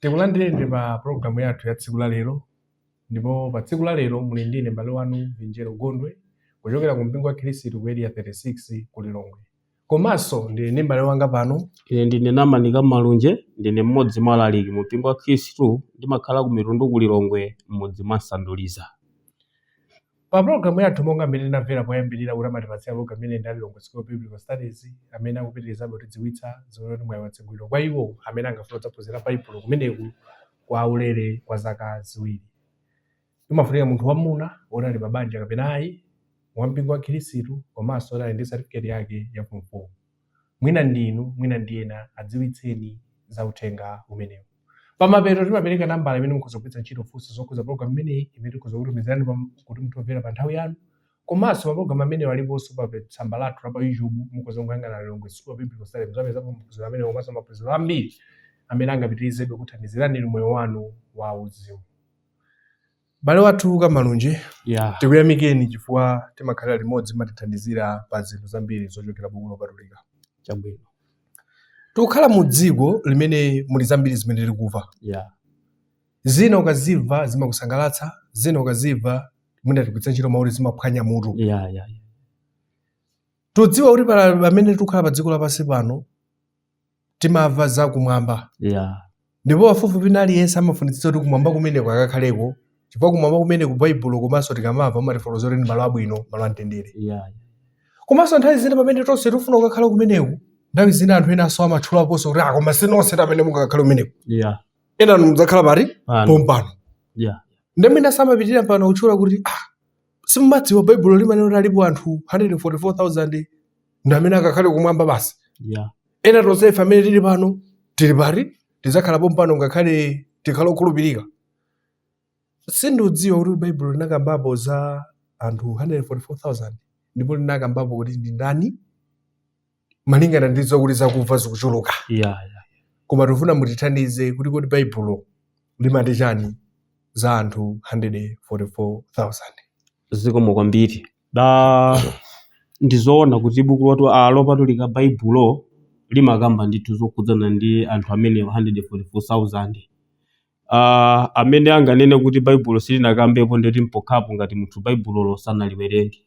Tikulandireni pa pulogalamu yathu ya tsiku la lero ndipo pa tsiku la lero muli ndine m'bale wanu Vinjero Gondwe kuchokera ku mpingo wa Khristu ku Area 36 ku Lilongwe. Komanso ndili ndi m'bale wanga pano Ine ndine Namanika Malunje, ndine mmodzi mwa alaliki mu mpingo wa Khristu ndimakhala ku Mitundu ku Lilongwe m'mudzi mwa Sanduliza. Pa pulogalamu yathu, monga mmene tinamvela poyambilila kuti amatipatsira pulogalamu imeneyi ndi a Lilongwe School of Biblical Studies amene akupitilizabe kutidziwitsa, zoti mwai watsegulidwa kwa iwo amene angafune kudzaphunzila Baibulo kumeneku kwa ulele kwa zaka ziwili. Imafunika munthu wamuna woti ali pa banja kapena ai, wa mpingo wa Khilisitu komanso woti ali ndi satifiketi yake ya fomu 4. Mwina ndi inu, mwina ndi ena, adziwitseni za uthenga umenewu. Pamapeto timapereka nambala imene mukhoza kugwiritsa ntchito kufunsa zokhudza pologalamu imeneyi imene tikhoza kukutumizirani pa kuti muthe kumvera pa nthawi yanu. Komanso mapologalamu amenewa aliponso pa pe- tsamba lathu la pa YouTube. Mukhoza kukayang'ana Lilongwe School of Biblical Studies muzapezapo maphunziro amenewa komanso maphunziro ambiri amene angapitirizebe kukuthandizirani inu moyo wanu wa uzimu. M'bale wathu a Malunje, Yeah. tikuyamikeni chifukwa timakhalira limodzi mumatithandizira pa zinthu zambiri zochokera buku lopatulika. Chabwino. Tikukhala mu dziko limene muli zambiri zimene tikuva. Yeah. Zina ukaziva zimakusangalatsa, zina ukaziva mwina tikugwiritsa ntchito mawu oti zimaphwanya mutu. Yeah, yeah, yeah. Tudziwa kuti pamene tikukhala pa dziko lapansi pano timamva za kumwamba yeah. ndipo pafupifupi wina aliyense amafunitsitsa kuti kumwamba kumeneko akakhaleko chifukwa kumwamba kumeneku baibulo komanso tikamamva amatifotokozera kuti ndi malo abwino malo amtendere yeah. komanso nthawi zina pamene tonse tifuna kukakhala kumeneko nthawi zina anthu enanso amatchulaponso kuti a koma ah, sinonse amene mungakakhale kumeneko yeah. enanu mudzakhala pati pompano yeah. ndemene amapitirira pano kutchula kuti ah, simumadziwa baibulo limanena kuti alipo anthu 144000 ndi amene akakhale kumwamba basi yeah. ena tonse ife amene tili pano tili pati tidzakhala pompano ngakhale tikhala okhulupirika sindiudziwa kuti baibulo linakambapo za anthu 144000 ndipo linakambapo kuti ndi ndani malingana ndi zokuti zakuva zikuchuluka yeah, yeah. koma tifuna mutithandize kuti kodi baibulo limati chani za anthu 144,000 zikomo kwambiri da ndizoona kuti buku lathu a lopatulika baibulo limakamba ndithu zokhudzana ndi anthu amenewa 144,000 Aaa amene anganene kuti baibulo silinakambepo ndeti mpokhapo ngati munthu baibulolo sanaliwerenge.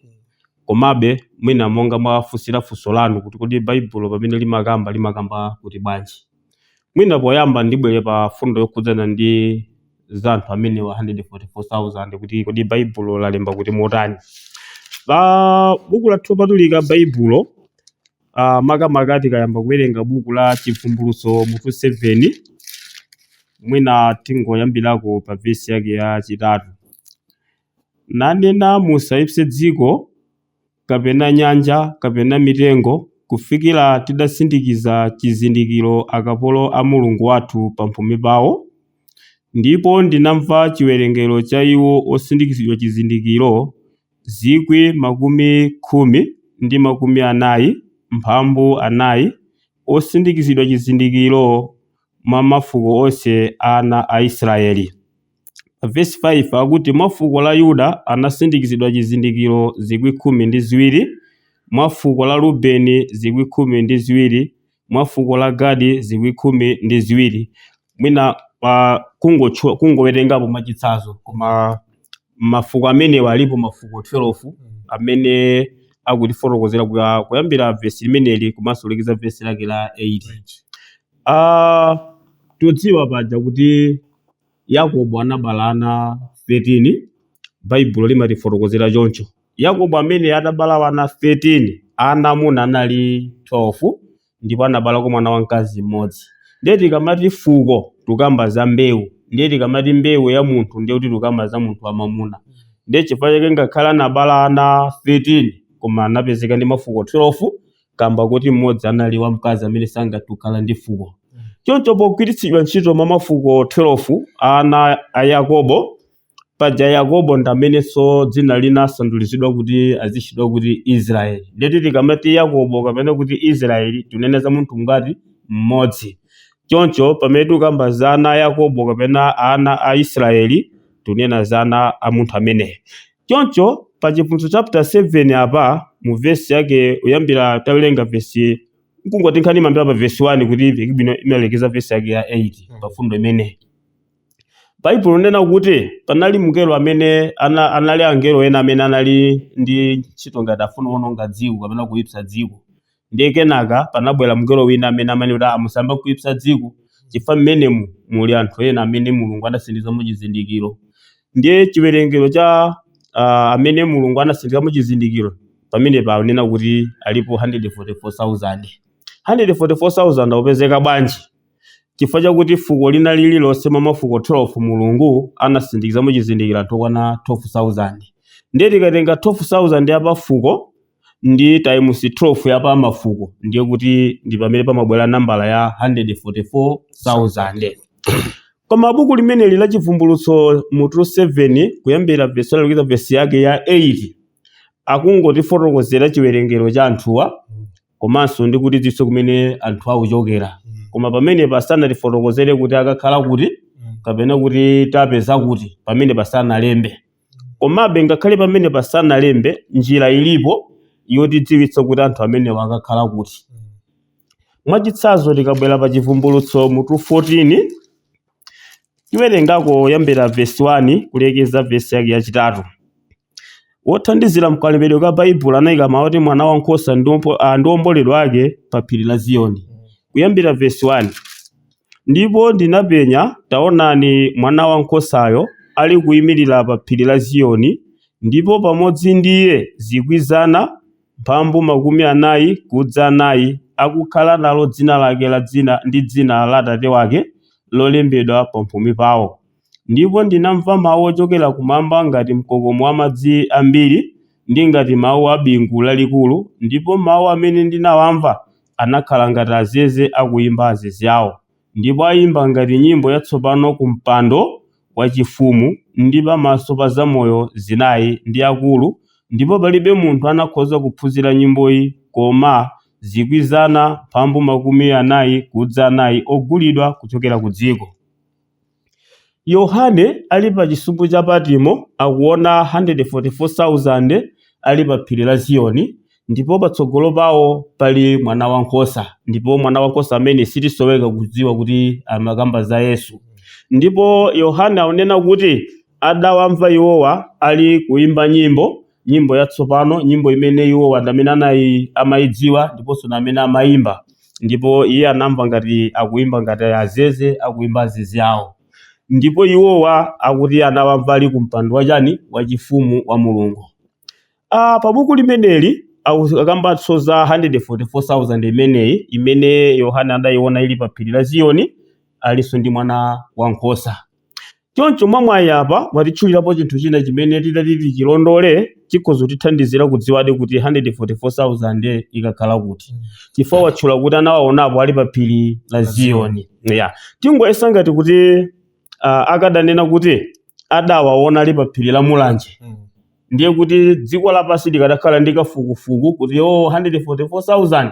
Komabe mwina monga mwafunsira funso lanu kuti kodi baibulo pamene limakamba limakamba kuti bwanji. Mwina poyamba ndibwere pa fundo yokhudzana ndi za anthu amenewa 144,000 kuti kodi baibulo lalemba kuti motani. Pa buku lathu lopatulika baibulo uh, makamaka tikayamba kuwerenga buku la Chivumbulutso mutu 7 mwina tingoyambirako pa vesi yake ya chitatu nanena musaipse dziko kapena nyanja kapena mitengo kufikira tidasindikiza chizindikiro akapolo a Mulungu wathu pamphumi pawo ndipo ndinamva chiwerengero cha iwo osindikizidwa chizindikiro zikwi makumi khumi ndi makumi anayi mphambu anayi, osindikizidwa chizindikiro mwa mafuko onse a ana a Israeli. Pa vesi 5 akuti mwa fuko la Yuda anasindikizidwa chizindikiro zikwi khumi ndi ziwiri, mwa fuko la Rubeni zikwi khumi ndi ziwiri, mwa fuko la Gadi zikwi khumi ndi ziwiri mwina pa kungotchula kungowerengapo mwachitsanzo koma mafuko amenewa alipo mafuko 12 amene akutifotokozera kuya- kuyambira vesi limeneli komanso kulekeza vesi lake la 8 Ah, tudziwa paja kuti yakobo anabala ana 13 baibulo limatifotokozera choncho Yakobo amene atabala ana 13, ana amuna anali 12 ndipo anabalako mwana wamkazi mmodzi. Ndiye tikamati fuko tukamba za mbewu, ndiye tikamati mbewu ya munthu ndiye kuti tukamba za munthu wamamuna. Ndiye chifukwa chake ngakhale anabala ana 13 koma anapezeka ndi mafuko 12 kamba kuti mmodzi anali wamkazi amene sangathe kukhala ndi fuko. Choncho pogwiritsidwa ntchito mwa mafuko 12 ana a Yakobo, Paja Yakobo ndi amenenso dzina linasandulizidwa kuti azitchedwa kuti Isiraeli. Ndiyetu tikamati Yakobo kapena kuti Isiraeli tunena za munthu ngati mmodzi. Choncho pamene tukamba za ana a Yakobo kapena ana a Isiraeli, tunena za ana a munthu ameneyo. Choncho pa Chivumbulutso chapter 7 apa mu vesi yake kuyambira tawerenga vesi n'kungoti nkhani imayambira pa vesi 1 kuti imveke bwino imalekeza vesi yake ya 8 pa mfundo imeneyi. Baibulo linena kuti panali mngelo amene ana, anali angelo ena amene anali ndi ntchito ngati afuna kuononga dziko kapena kuipsa dziko. Ndiye kenaka panabwera mngelo wina amene anena kuti musayambe kuipsa dziko chifukwa mmenemu muli anthu ena amene Mulungu anasindikizamo chizindikiro. Ndiye chiwerengero cha uh, amene Mulungu anasindikizamo chizindikiro pamene panena kuti alipo 144,000. 144,000 akupezeka bwanji? Chifukwa chakuti fuko lina lililonse mwa mafuko 12 Mulungu anasindikizamo chizindikiro anthu okwana 12,000. Ndiye tikatenga 12,000 ya pa fuko ndi times 12 ya pa mafuko ndiye kuti ndi pamene pamabwera nambala ya 144,000. Koma buku limeneli la Chivumbulutso mutu 7 kuyambira vesi 1 kulekeza vesi yake ya 8 akungotifotokozera chiwerengero cha anthuwa komanso ndi kutidziwitsa kumene anthu akuchokera Mm. koma pamene pasanatifotokozere kuti akakhala kuti Mm. kapena kuti tapeza kuti pamene pasanalembe komabe ngakhale pamene pasanalembe njira ilipo yotidziwitsa kuti anthu amenewa akakhala kuti Mm. mwachitsanzo tikabwera pa chivumbulutso mutu 14 tiwerengako yambira vesi 1 kulekeza vesi yake yachitatu Wothandizira mkalembedwe ka Baibulo anaika mawu oti Mwanawankhosa ndi ompo- ah, ndi omboledwa ake pa phiri la Ziyoni. Kuyambira vesi 1. Ndipo ndinapenya, taonani Mwanawankhosayo ali kuimirira pa phiri la Ziyoni, ndipo pamodzi ndi iye zikwi zana mphambu makumi anayi kudza anayi, akukhala nalo dzina lake la dzina ndi dzina la Atate wake lolembedwa pamphumi pawo. Ndipo ndinamva mawu ochokera kumwamba ngati mkokomo wa madzi ambiri ndi ngati mawu a bingu lalikulu, ndipo mawu amene ndinawamva anakhala ngati azeze akuimba azeze awo. Ndipo aimba ngati nyimbo yatsopano kumpando wachifumu ndi pamaso pa zamoyo zinayi ndi akulu, ndipo palibe munthu anakhoza kuphunzira nyimboyi koma zikwi zana mphambu makumi anayi kudza anayi ogulidwa kuchokera kudziko. Yohane ali pa Chisumbu cha Patmo akuona 144,000 ali pa Phiri la Ziyoni, ndipo patsogolo pawo pali Mwanawankhosa, ndipo Mwanawankhosa ameneyu sitisoweka kudziwa kuti amakamba za Yesu. Ndipo Yohane akunena kuti adawamva iwowa ali kuimba nyimbo, nyimbo yatsopano, nyimbo imene iwowa ndi amene amayidziwa ndiponso ndi amene amayimba. Ndipo iye anamva ngati akuimba ngati azeze akuimba azeze awo. Ndipo iwowa akuti anawamva ali ku mpando wachani wachifumu wa Mulungu. Ah, pa buku limeneli aku- akambanso za 144,000 imeneyi imene Yohane adayiona ili pa phiri la Ziyoni alinso ndi mwana wankhosa. Choncho mwamwayi apa watitchulirapo chinthu china chimene titati tichilondole chikhoza kutithandizira kudziwadi kuti 144,000 ikakhala kuti chifukwa watchula kuti anawaonapo ali pa phiri la Ziyoni. Yeah. Tingoyesa ngati kuti ah, akadanena kuti adawaona ali pa phiri la Mulanje Mm. ndiye kuti dziko lapansi likadakhala ndi kafukufuku kuti o 144,000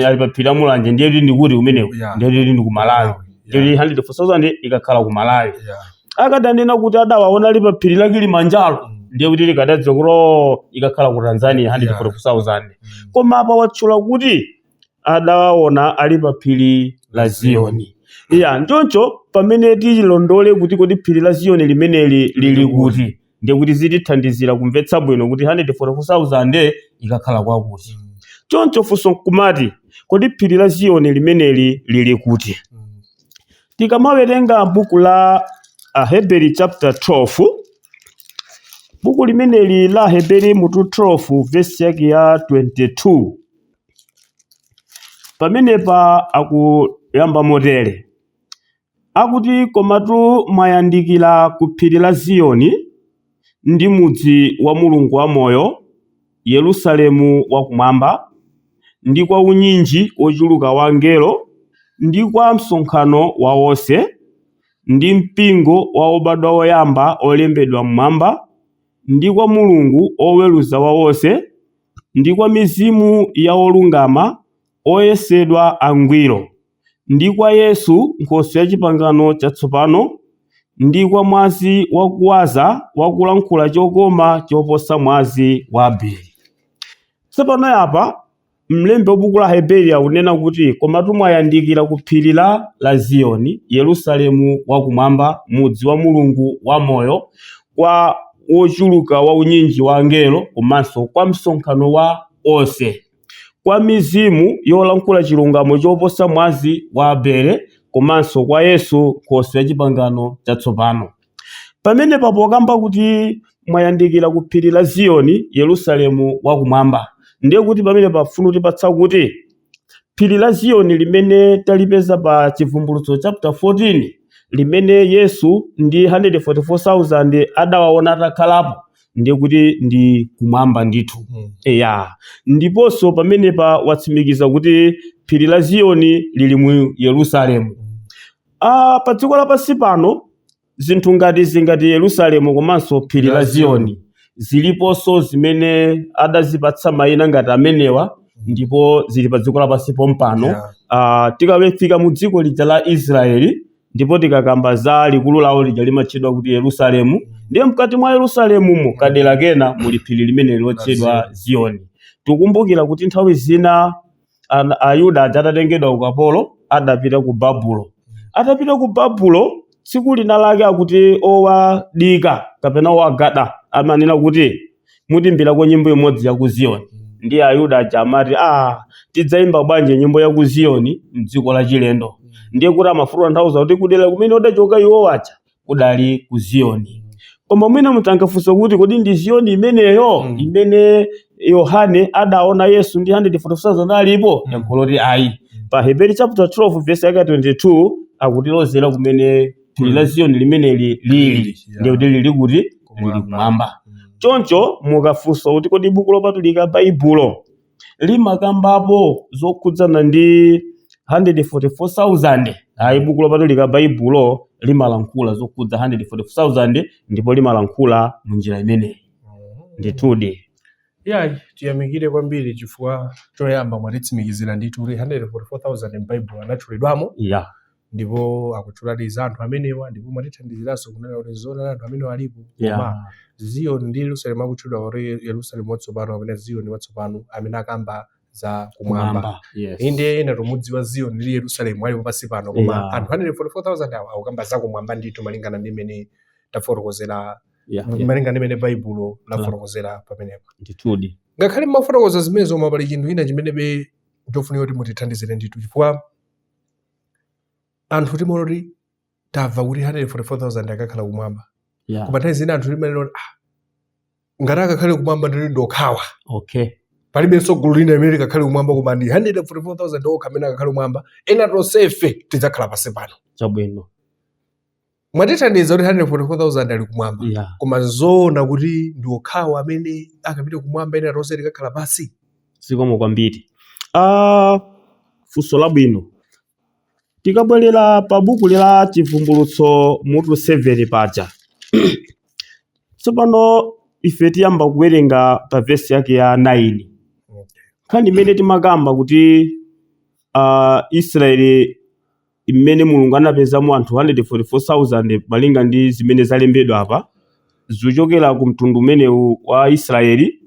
ali paphiri la mulanje ndiye kuti ndikuti kumeneko Yeah. ndiye kuti ndi ku malawi ndiye kuti 144,000 ikakhala ku malawi Yeah. akadanena kuti adawaona ali paphiri la kilimanjaro Mm. ndiye kuti likadadziwa kuti o ikakhala ku tanzania 144,000 Mm. koma apa watchula kuti adawaona ali pa phiri la ziyoni eya choncho pamene tililondole kuti kodi phiri la ziyoni limeneli lili kuti ndiye kuti zitithandizira kumvetsa bwino kuti 144,000 ikakhala kwakuti. Choncho funso nkumati, kodi phiri la Ziyoni limeneli lili kuti? Tikamawerenga buku la Aheberi chapter 12, buku limeneli la Aheberi mutu 12 vesi yake ya 22 pamenepa akuyamba motere Akuti, Komatu mwayandikira ku phiri la Ziyoni, ndi mudzi wa Mulungu wamoyo, Yerusalemu wa Kumwamba, ndi kwa unyinji wochuluka wa angelo, ndi kwa msonkhano wa onse, ndi mpingo wa obadwa oyamba olembedwa m'Mwamba, ndi kwa Mulungu Woweruza wa onse, ndi kwa mizimu ya olungama oyesedwa angwiro. ndi kwa Yesu Nkhoswe ya Chipangano Chatsopano, ndi kwa mwazi wakuwaza wakulankhula chokoma choposa mwazi wa Abeli. Tsopano apa mlembi wa buku la Heberi akunena kuti komatu mwayandikira ku phiri la Ziyoni, Yerusalemu wakumwamba, mudzi wa Mulungu wamoyo, kwa wochuluka wa unyinji wa angelo komanso kwa msonkhano wa onse. kwa mizimu yolankhula chilungamo choposa mwazi wa Abele komanso kwa Yesu Nkhoswe ya Chipangano Chatsopano. Pamenepa pokamba kuti mwayandikira ku phiri la Ziyoni, Yerusalemu wakumwamba, ndiye kuti pamenepa pafuna kutipatsa kuti phiri la Ziyoni limene talipeza pa Chivumbulutso chapter 14 limene Yesu ndi 144,000 adawaona atakhalapo ndiye kuti ndi kumwamba ndithu Mm. eya ndiponso pamenepa watsimikiza kuti phiri la ziyoni lili mu yerusalemu Mm. Ah, pa dziko lapansi pano zinthu ngati zingati yerusalemu komanso phiri la ziyoni ziliponso zimene adazipatsa mayina ngati amenewa ndipo zili pa dziko lapansi pompano Yeah. Ah, tikafika mu dziko lija la israeli Ndipo tikakamba za likulu lawo lija limatchedwa kuti Yerusalemu, ndiye mkati mwa Yerusalemumo kadera kena muli phiri limeneli lotchedwa Ziyoni. Tikukumbukira kuti nthawi zina ana- Ayuda aja atatengedwa ukapolo adapita ku Babulo. Atapita ku Babulo tsiku lina lake akuti owadikira kapena owagada amanena kuti Mutiimbirako nyimbo imodzi ya ku Ziyoni. Ndiye Ayuda aja amati, Aa, tidzaimba bwanji nyimbo ya ku Ziyoni m'dziko lachilendo? Ndiye kuti amafuna kutanthauza kuti kudera kumene adachoka iwo aja kudali ku Ziyoni. Koma mwina munthu angafunse kuti kodi ndi Ziyoni imeneyo Mm. imene Yohane adaona Yesu ndi 144,000 alipo? Mm. Yankho loti ayi. Pa Heberi chapter 12 verse yake ya 22 akutilozera kumene phiri la ziyoni limeneli lili ndiye kuti lili kuti lili kumwamba choncho mukafunsa kuti kodi buku lopatulika baibulo limakambapo zokhudzana ndi 144,000 ayi buku lopatulika baibulo limalankhula zokhudza 144,000 ndipo limalankhula mu njira imeneyi ndithudi iyayi tiyamikire kwambiri chifukwa choyamba mwatitsimikizira ndithu kuti 144,000 m'baibulo anatchulidwamo ya ndipo akutchuladi za anthu amenewa ndipo mwatithandiziranso kunena kuti zoonadi anthu amenewa alipo Yeah. koma ziyoni ndi yerusalemu akutchulidwa kuti yerusalemu watsopano kapena ziyoni watsopano amene akamba za kumwamba Kumwamba. Yes. inde ena tomwe tikudziwa ziyoni ndi yerusalemu alipo pansi pano koma Yeah. anthu 144000 awa akukamba za kumwamba ndithu malingana ndi mmene tafotokozera Yeah, yeah. malingana ndi mmene baibulo lafotokozera pamenepo Ndithudi. ngakhale mmafotokoza zimenezo koma pali chinthu china chimenebe chili chofunika kuti mutithandizire ndithu chifukwa anthu timaona kuti tamva kuti 144,000 akakhala kumwamba yeah. koma nthawi zina anthu timaona ah, ngati akakhale kumwamba ndithu ndi okhawa okay palibenso gulu lina limene likakhale kumwamba koma ndi 144,000 okha amene akakhale kumwamba ena tonsefe tidzakhala pansi pano chabwino mwatithandiza kuti 144,000 ali kumwamba yeah. koma nzoona kuti ndi okhawa amene akapite kumwamba ena tonse tikakhala pansi zikomo kwambiri ah, funso labwino tikabwerera pa buku la chivumbulutso mutu 7 paja tsopano ife tiyamba kuwerenga pa vesi yake ya 9 nkhani imene timakamba kuti ah, israeli imene Mulungu anapezamo anthu 144,000 malinga ndi zimene zalembedwa apa, zochokera ku mtundu umenewu wa Isiraeli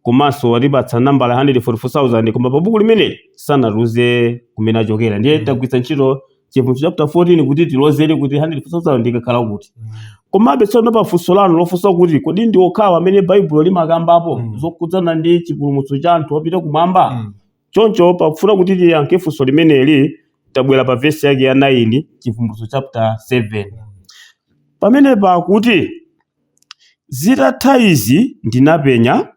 komanso watipatsa nambala 144,000 koma pa buku limeneli sanatiuze kumene achokera. Ndiye mm. tagwiritsa ntchito Chivumbulutso chapter 14 kuti tilozere kuti 144,000 ikakhala kuti. Mm. Komabe tsono pa funso lanu lofunsa kuti kodi ndi okhawa amene Baibulo limakambapo mm. zokhudzana ndi chipulumutso cha anthu opita kumwamba? Mm. Choncho pakufuna kuti tiyankhe funso limeneli, tabwera pa vesi yake ya 9, Chivumbulutso chaputala 7. Pamenepa akuti, Zitatha izi ndinapenya,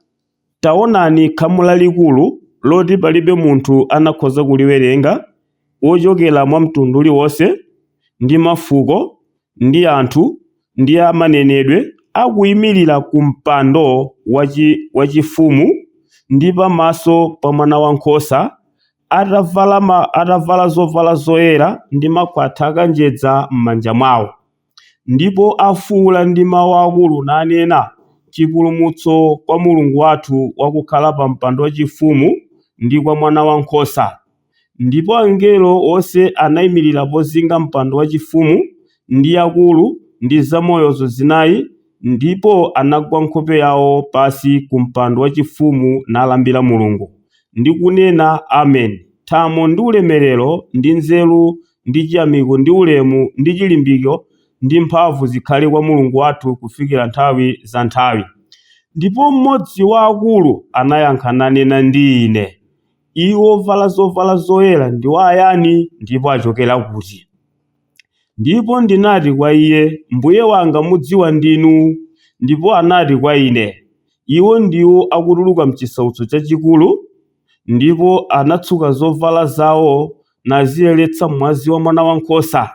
taonani, khamu lalikulu, loti palibe munthu anakhoza kuliwerenga, ochokera mwa mtundu uliwonse, ndi mafuko, ndi anthu, ndi a manenedwe, akuimirira ku mpando wachifumu, ndi pamaso pa Mwanawankhosa, atavala zovala zoyera, ndi makhwatha akanjedza m'manja mwawo. ndipo afuula ndi mawu akulu nanena, Chipulumutso kwa Mulungu wathu wakukhala pa mpando wachifumu, ndi kwa Mwanawankhosa. Ndipo angelo onse anaimirira pozinga mpando wachifumu, ndi akulu, ndi zamoyozo zinai, ndipo anagwa nkhope yawo pansi ku mpando wachifumu nalambira Mulungu, ndi kunena, Amen, thamo ndi ulemerero ndi nzeru ndi chiyamiko, ndi ulemu, ndi chilimbiko, ndi mphamvu zikhale kwa Mulungu wathu kufikira nthawi za nthawi. Ndipo mmodzi wa akulu anayankha nanena ndi ine, Iwo ovala zovala zoyera ndiwo ayani, ndipo achokera kuti? Ndipo ndinati kwa iye, Mbuye wanga mudziwa ndinu. Ndipo anati kwa ine, Iwo ndiwo akutuluka m'chisautso chachikulu, ndipo anatsuka zovala zawo naziyeretsa m'mwazi wa Mwanawankhosa.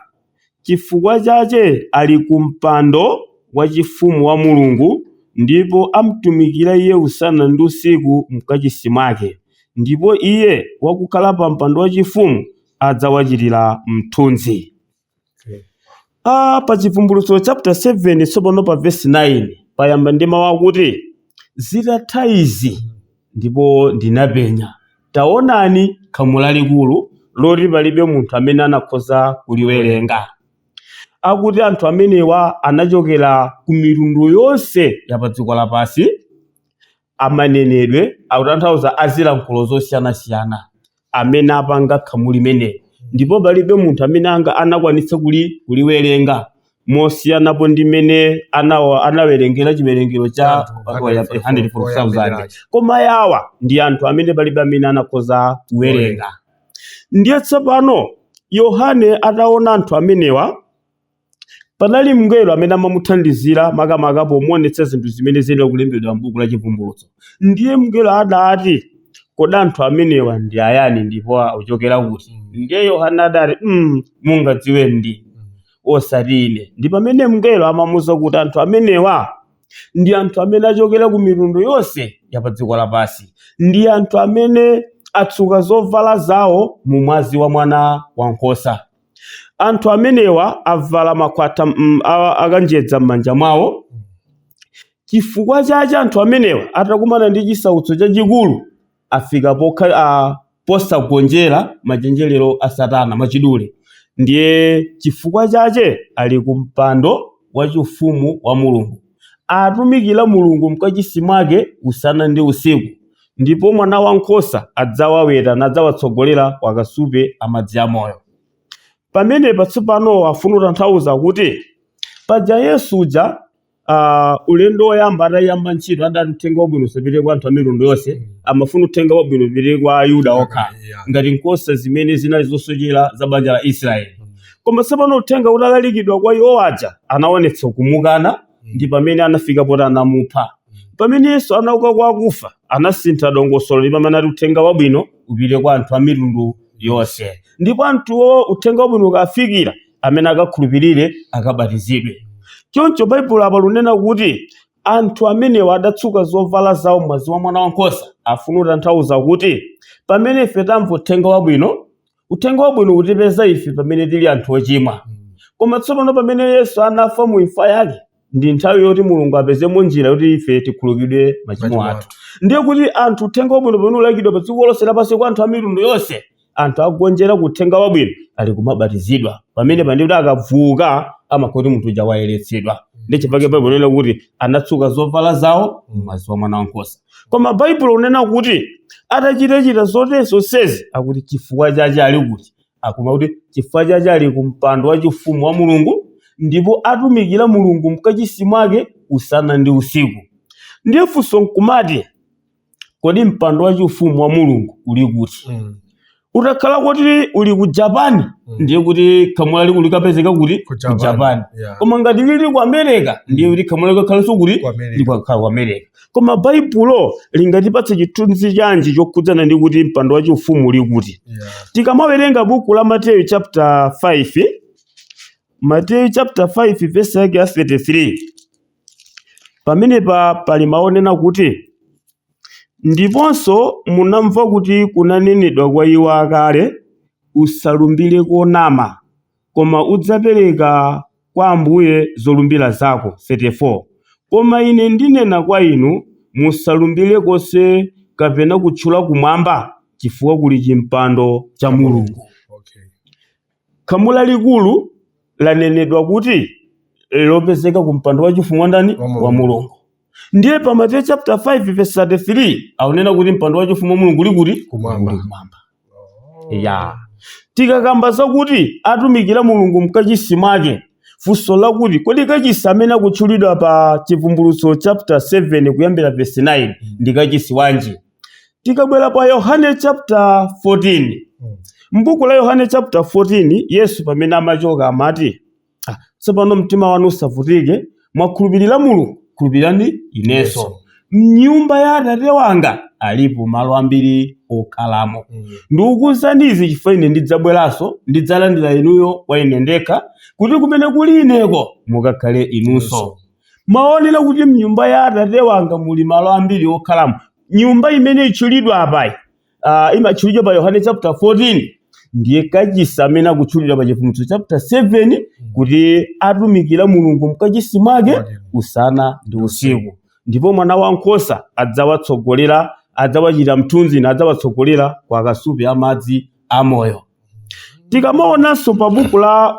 Chifukwa chache ali ku mpando wachifumu wa Mulungu, ndipo amtumikira iye usana ndi usiku m'Kachisi mwake, ndipo iye wakukhala pa mpando wachifumu adzawachitira mthunzi. A, pa Chivumbulutso chapter 7 tsopano pa verse 9 payamba ndi mawu akuti zitatha izi ndipo ndinapenya taonani khamu lalikulu loti palibe munthu amene anakhoza kuliwerenga akuti anthu amenewa anachokera ku mitundu yonse ya pa dziko lapansi a manenedwe akutanthauza a zilankhulo zosiyanasiyana amene apanga khamu limeneli ndipo palibe munthu amene anga anakwanitsa kuli kuliwerenga mosiyanapo ndi mmene anawa anawerengera chiwerengero cha 144,000 koma yawa ndi anthu amene palibe amene anakhoza kuwerenga ndiye tsopano yohane ataona anthu amenewa Panali mngelo amene amamuthandizira makamaka pomuonetsa zinthu zimene ziyenera kulembedwa m'buku la Chivumbulutso. Ndiye mngelo adati, Kodi anthu amenewa ndi ayani ndipo akuchokera kuti? Ndiye Yohane adati, mm, Mungadziwe ndi osati ine. Ndi pamene mngelo amamuuza kuti anthu amenewa ndi anthu amene achokera ku mitundu yonse ya pa dziko lapansi. Ndi anthu amene atsuka zovala zawo mu mwazi wa mwana wankhosa. anthu amenewa avala makhwatha mm, a- akanjedza m'manja mwawo chifukwa chache anthu amenewa atakumana ndi chisautso chachikulu afika pokha a, posagonjera machenjerero a satana mwachidule ndiye chifukwa chache ali ku mpando wachifumu wa mulungu atumikira mulungu mkachisi mwake usana ndi usiku Ndipo Mwanawankhosa adzawaweta nadzawatsogolera ku akasupe a madzi amoyo. Pamenepa tsopano afuna kutanthauza kuti paja Yesu uja ah, ulendo woyamba atayamba ntchito adati uthenga wabwino usapite kwa anthu a mitundu yonse amafuna uthenga wabwino upite kwa ayuda okha Yeah. ngati nkhosa zimene zinali zosochera za banja la israeli koma tsopano uthenga utalalikidwa kwa iwo aja anaonetsa kumukana ndi pamene anafika poti anamupha pamene yesu anauka kwa akufa anasintha dongosolo ndi pamene ati uthenga wabwino upite kwa anthu a mitundu yonse ndipo anthuwo uthenga wabwino ukafikira amene akakhulupirire akabatizidwe choncho baibulo apa likunena kuti anthu amenewa adatsuka zovala zawo m'mwazi wa mwana wankhosa afuna kutanthauza kuti pamene ife tamva uthenga wabwino uthenga wabwino utipeza ife pamene tili anthu ochimwa koma tsopano pamene yesu anafa mu imfa yake ndi nthawi yoti mulungu apezemo njira yoti ife tikhululukidwe machimo athu. ndiye kuti anthu uthenga wabwino pamene ulalikidwa pa dziko lonse lapansi kwa anthu a mitundu yonse anthu akugonjera ku uthenga wabwino ali kumabatizidwa pamenepa ndi kuti akavuuka amakhala oti munthu uja wayeretsedwa ndi chifukwa chake baibulo linena kuti anatsuka zovala zawo m'mwazi wa mwana wankhosa koma baibulo likunena kuti atachitachita zonsezonsezi akuti chifukwa chache ali kuti akuti chifukwa chache ali ku mpando wa chifumu wa mulungu ndipo atumikira mulungu mkachisi mwake usana ndi usiku ndiye funso nkumati kodi mpando wa chifumu wa mulungu uli kuti Mm. utakhala kuti uli ku japan Mm. ndiye kuti khamu lalikulu likapezeka kuti Ku ku Japan. japan Yeah. koma ngati uli ku america ndiye kuti khamu lalikulu likakhalanso kuti Ku America. likakhala ku america koma baibulo lingatipatse chithunzi chanji chokhudzana ndi kuti mpando wachifumu uli kuti Yeah. tikamawerenga buku la mateyu chapter 5 mateyu chapter 5 vesi yake ya 33 Pamenepa pali mawu onena kuti, Ndiponso munamva kuti kunanenedwa kwa iwo akale, Usalumbire konama, koma udzapereka kwa Ambuye zolumbira zako, 34 koma ine ndinena kwa inu, Musalumbire konse kapena kutchula kumwamba, chifukwa kuli chimpando cha Mulungu. Khamu lalikulu lanenedwa kuti lopezeka ku mpando wachifumu wa ndani? Wa Mulungu. Wa Mulungu. Ndiye pa Mateyu chapter 5 verse 33 akunena kuti mpando wachifumu wa Mulungu uli kuti? Kumwamba. Uli kumwamba. Ya. Tikakamba zakuti atumikira Mulungu mkachisi mwake, funso lakuti kodi kachisi amene akutchulidwa pa Chivumbulutso chapter 7 kuyambira verse 9 ndi kachisi wanji? Tikabwera pa Yohane chapter 14 m'buku la Yohane chapter 14 Yesu pamene amachoka amati "Ah, tsopano mtima wanu usavutike mwakhulupirira Mulungu khulupirirani inenso mnyumba ya atate wanga alipo malo ambiri okhalamo ndikukuuzani izi chifukwa ine ndidzabweranso ndidzalandira inuyo kwa ine ndekha kuti kumene kuli ineko mukakhale inunso Mawu onena kuti m'nyumba ya Atate wanga muli malo ambiri okhalamo, nyumba imene itchulidwa apayi, ah, imatchulidwa pa Yohane chapter 14, ndiye kachisi amene akutchulidwa pa Chivumbulutso chapter 7 kuti atumikira Mulungu mkachisi mwake Mwake. usana ndi usiku. Ndipo mwana wankhosa adzawatsogolera, adzawachita mthunzi nadzawatsogolera kwa akasupe a madzi amoyo. Tikamaonanso pa buku la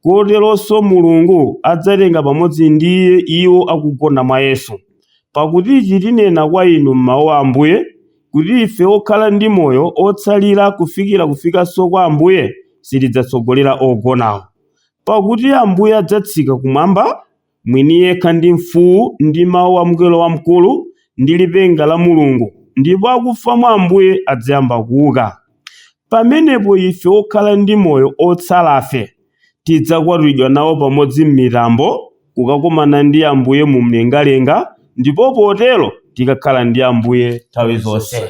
koteronso Mulungu adzatenga pamodzi ndi Iye iwo akugona mwa Yesu. Pakuti ichi tinena kwa inu m'mawu a Ambuye, kuti ife okhala ndi moyo otsalira kufikira kufikanso kwa Ambuye, sitidzatsogolera ogonawo. Pakuti Ambuye adzatsika kumwamba mwini yekha ndi mfuu, ndi mau a mngelo wamkulu, ndi lipenga la Mulungu, ndipo akufa mwa Ambuye adzayamba kuuka. Pamenepo ife okhala ndi moyo otsalafe, tidzakwatulidwa nawo pamodzi m'mitambo, kukakomana ndi Ambuye mumlengalenga, ndipo potero tikakhala ndi Ambuye nthawi zonse.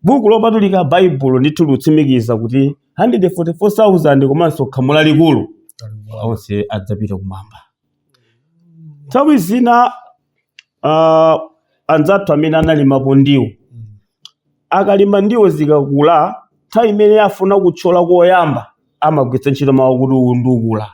Buku Lopatulika Baibulo ndithu likutsimikiza kuti 144,000 komanso khamu lalikulu onse adzapita kumwamba. Nthawi zina ah, anzathu amene analimapo ndiwo akalima ndiwo zikakula nthawi imene afuna kutchola koyamba amagwiritsa ntchito mawu kuti kuundukula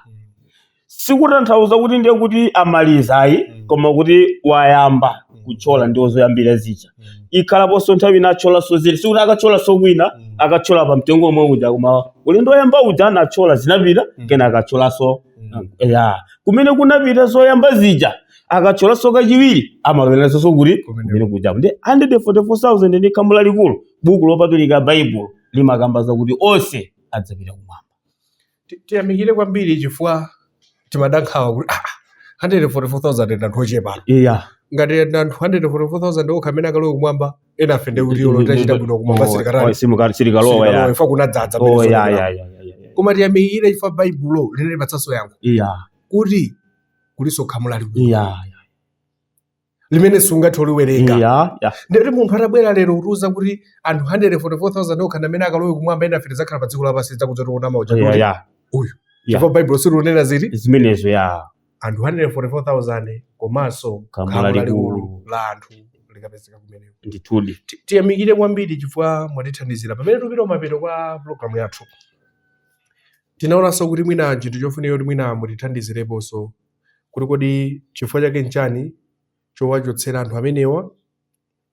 sikutanthauza kuti ndiye kuti amaliza ayi Mm. koma kuti wayamba Mm. kutchola ndiwo zoyambira zija Mm. ikhalaponso nthawi ina atcholanso zili sikuti akatcholanso kwina Mm. akatchola pa mtengo omwe uja koma ulendo woyamba uja anatchola zinapita Mm. kenaka akatcholanso Mm. ya kumene zinapita zoyamba zija akatcholanso kachiwiri amaloweranso kuti Kumene- kumene kuja ndi 144000 ndi khamu lalikulu buku lopatulika baibulo limakamba zakuti onse adzapita kumwamba Ti- tiyamikire kwambiri chifukwa timada nkhawa kuti ah, 144,000 ndi anthu ochepa iya ngati ndi anthu 144,000 okha amene akalowe kumwamba enafe ndi kuti olo tachita bwino kumwamba sitikatha sitikalowa ya chifukwa kunadzadza oh ya ya ya ya, ya ya. koma tiyamikire chifukwa baibulo likutipatsanso yankho iya kuti kulinso khamu lalikulu iya limene sungathe kuliwerenga ya ya ndikuti munthu atabwera lero kutiuza kuti anthu 144,000 okha amene akalowe kumwamba ena afe tidzakhala pa dziko lapansi zakudza tiona mauja ya ya uyu Ya. chifukwa baibulo silunena zinthu zimenezo ya anthu 144,000 komanso Khamu khamu lalikulu. lalikulu la anthu likapezeka kumeneko ndithudi Ti- tiyamikire kwambiri chifukwa mwatithandizira pamene tikupita kumapeto kwa programu yathu tinaonanso kuti mwina chinthu chofunika kuti mwina mutithandizireponso kuti kodi chifukwa chake nchani chowachotsera anthu amenewa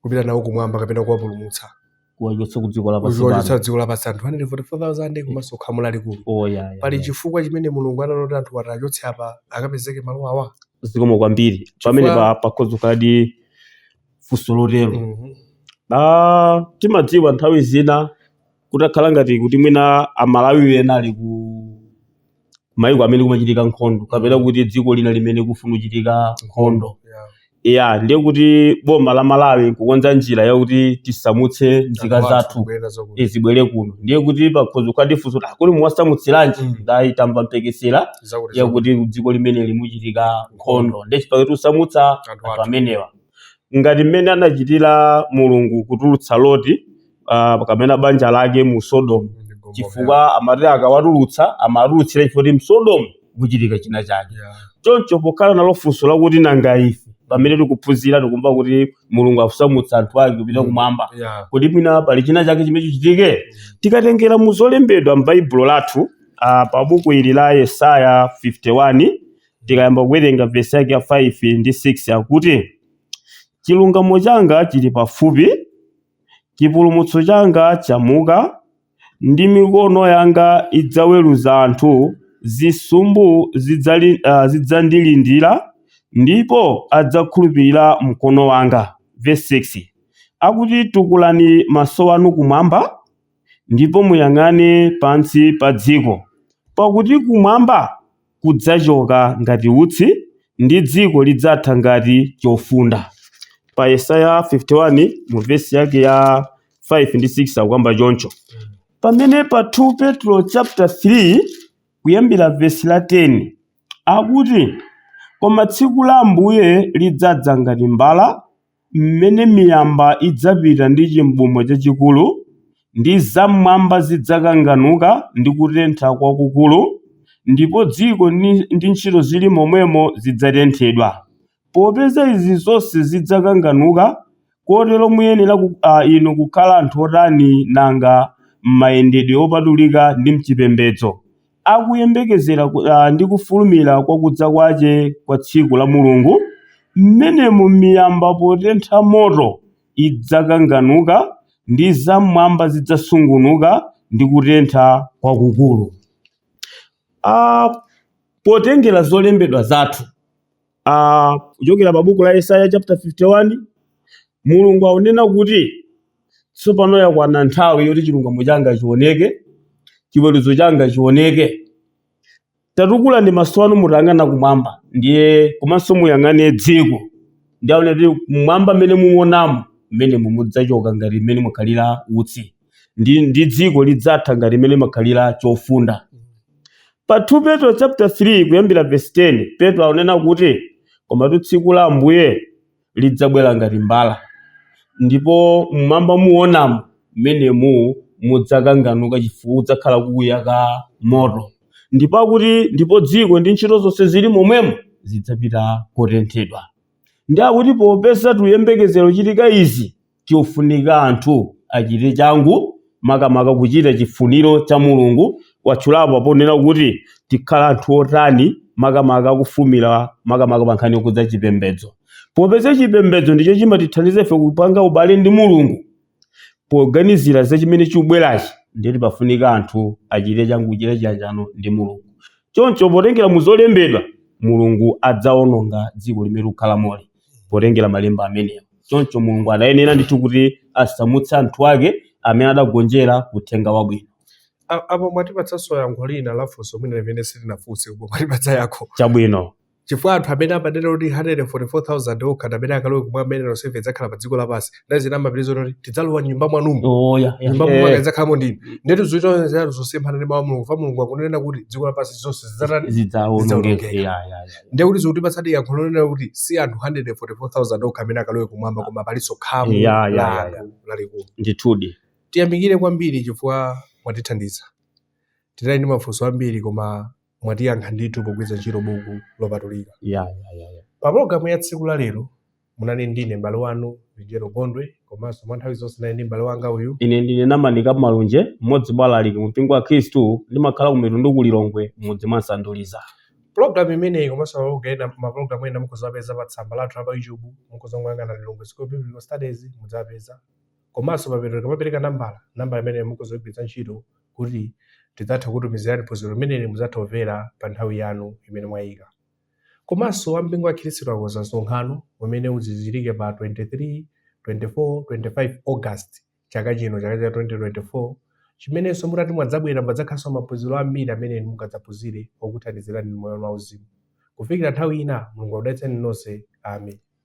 kupita nawo kumwamba kapena kuwapulumutsa kuwachotsa ku dziko lapansi kuziwachotsa pano. dziko lapansi anthu 144,000 komanso khamu lalikulu Oh, ya, ya, pali ya. chifukwa chimene mulungu anafuna anthu awachotse apa akapezeke malo awa zikomo kwambiri Chifukwa- pamene pa pakhoza kukhaladi funso lotero Mhm. Ah, timadziwa nthawi zina kutakhala ngati kuti mwina Amalawi ena ali ku maiko amene kumachitika nkhondo kapena kuti dziko lina limene kufuna kuchitika nkhondo Yeah. ya ndiye kuti boma la Malawi nkukonza njira yakuti tisamutse nzika Anthu zathu kubwerera zakuno. eh, zibwere kuno ndiye kuti pakhoza kukhaladi funso kuti kodi muwasamutsiranji Mm. ndayi tamva mphekesera Zakuti- yakuti dziko limene limuchitika nkhondo ndiye nchifukwa chake tusamutsa Anthu anthu athu. amenewa ngati mmene anachitira mulungu kutulutsa loti ah, kapena banja lake mu sodomu chifukwa amati akawatulutsa amatulutsira chifukwa msodomu muchitika china chake choncho pokhala nalo funso lakuti nanga ife pamene tikuphunzira tikumva kuti mulungu akusamutsa anthu ake kupita kumwamba kuti mwina pali china chake chimene chichitike tikatengera mu zolembedwa m'baibulo lathu ah, pa buku ili la yesaya 51 tikayamba kuwerenga vesi yake ya 5 ndi 6 akuti chilungamo changa chili pafupi Chipulumutso changa chamuka, ndi mikono yanga idzaweruza anthu, zisumbu zidzali, uh, zidzandilindira, ndipo adzakhulupirira mkono wanga. Verse 6 akuti, Tukulani maso anu kumwamba, ndipo muyang'ane pansi pa dziko, pakuti kumwamba kudzachoka ngati utsi, ndi dziko lidzatha ngati chofunda. Pa Yesaya 51 mu vesi yake ya 5 ndi 6 akukamba choncho. Pamene pa 2 Petro chapter 3 kuyambira vesi la 10 akuti koma tsiku la Ambuye lidzadza ngati mbala mmene miyamba idzapita ndi chibumo chachikulu, ndi zam'mwamba zidzakanganuka ndi kutentha kwakukulu, ndipo dziko ndi, ndi ntchito zili momwemo zidzatenthedwa. Popeza izi zonse zidzakanganuka, kotero muyenera ku, a, inu kukhala anthu otani nanga m'mayendedwe opatulika ndi m'chipembedzo, akuyembekezera ndi kufulumira kwa kudza kwace kwa tsiku la Mulungu, m'menemo miyamba potentha moto idzakanganuka, ndi zam'mwamba zidzasungunuka ndi kutentha kwakukuru. a Potengera zolembedwa zathu, Ah, kuchokera pa buku la Yesaya chapter 51 Mulungu akunena kuti tsopano yakwana nthawi yoti chilungamo changa chioneke, chiweruzo changa chioneke. Tatukulani maso anu mutayang'ana kumwamba, ndiye komanso muyang'ane dziko. Ndiye akunena kuti kumwamba mmene muonamo mmenemu mudzachoka ngati mmene mwakhalira utsi. ndi, ndi dziko lidzatha ngati mmene chimakhalira chofunda pa 2 petro chapter 3 kuyambira verse 10 petro akunena kuti komatu tsiku la ambuye lidzabwera ngati mbala ndipo mmwamba muonamo mmenemu mudzakanganuka chifukwa kudzakhala kukuyaka moto ndipo akuti ndipo dziko ndi ntchito zonse zili momwemo zidzapita kotenthedwa ndi akuti popeza tikuyembekezera kuchitika izi Kukufunika anthu achite changu makamaka kuchita chifuniro cha Mulungu. Watchulapo ponena kuti tikhale anthu otani makamaka kufulumira makamaka pa nkhani yokhudza chipembedzo. Popeza chipembedzo ndicho chimatithandiza ife kupanga ubale ndi Mulungu poganizira za chimene chikubwerachi ndiyetu pafunika anthu achite changu kuchita chiyanjano ndi Mulungu. Choncho potengera mu zolembedwa, Mulungu adzaononga dziko limene tikukhalamoli. potengera malemba amenewa. Choncho Mulungu adayenera ndithu kuti asamutse anthu ake amene adagonjera uthenga wabwino. A- Apo mwatipatsanso yankho lina la funso mwina limene sitinafunse koma mwatipatsa yankho. Chabwino. Chifukwa anthu amene amanena kuti 144,000 okha ndi amene akalowe kumwamba ena tonsefe tidzakhala pa dziko lapansi. ndi ena amapitiriza kuti tidzalowa nyumba mwanumo oh, yeah, yeah. nyumba mwanumu akadzakhalamo ndinu ndetu zochita zanu zosemphana ndi mawu a mulungu fa mulungu akunena kuti dziko lapansi zonse zidzatani zidzaonongeka ndiye kuti zikuti patsadi yankho lonena kuti si anthu 144000 okha amene akalowe kumwamba koma palinso khamu la anthu lalikulu ndithudi tiyamikire kwambiri chifukwa mwatithandiza tinali ndi mafunso ambiri koma mwatiyankha ndithu pogwiritsa ntchito buku lopatulika. Yeah, yeah, yeah, yeah. Pa pologalamu ya tsiku la lero munali ndine m'bale wanu Vijero Gondwe komanso mwa nthawi zonse ndinali ndi m'bale wanga uyu Ine ndine Namanika Malunje, mmodzi mwa alaliki mu mpingo wa Khristu, ndimakhala ku Mitundu ku Lilongwe, m'mudzi mwa Nsanduliza. Program imeneyi komanso mapologalamu ena mukhoza kupeza pa tsamba lathu la pa YouTube mukhoza kuyang'ana Lilongwe School of Biblical Studies mudzapeza Komanso pamapeto tikamapereka nambala, nambala imeneyo mukhoza kuigwiritsa ntchito kuti tidzathe kukutumizirani phunziro limeneli mudzathe kumvera pa nthawi yanu imene mwaika. Komanso a mpingo wa Khristu akonza msonkhano umene udzachitike pa 23, 24, 25 August chaka chino, chaka cha 2024, chimenenso mutati mwadzabwera padzakhalanso maphunziro ambiri amene inu mungadzaphunzire okuthandizirani inu m'moyo wanu wauzimu. Kufikira nthawi ina, Mulungu akudalitseni nonse. Amen.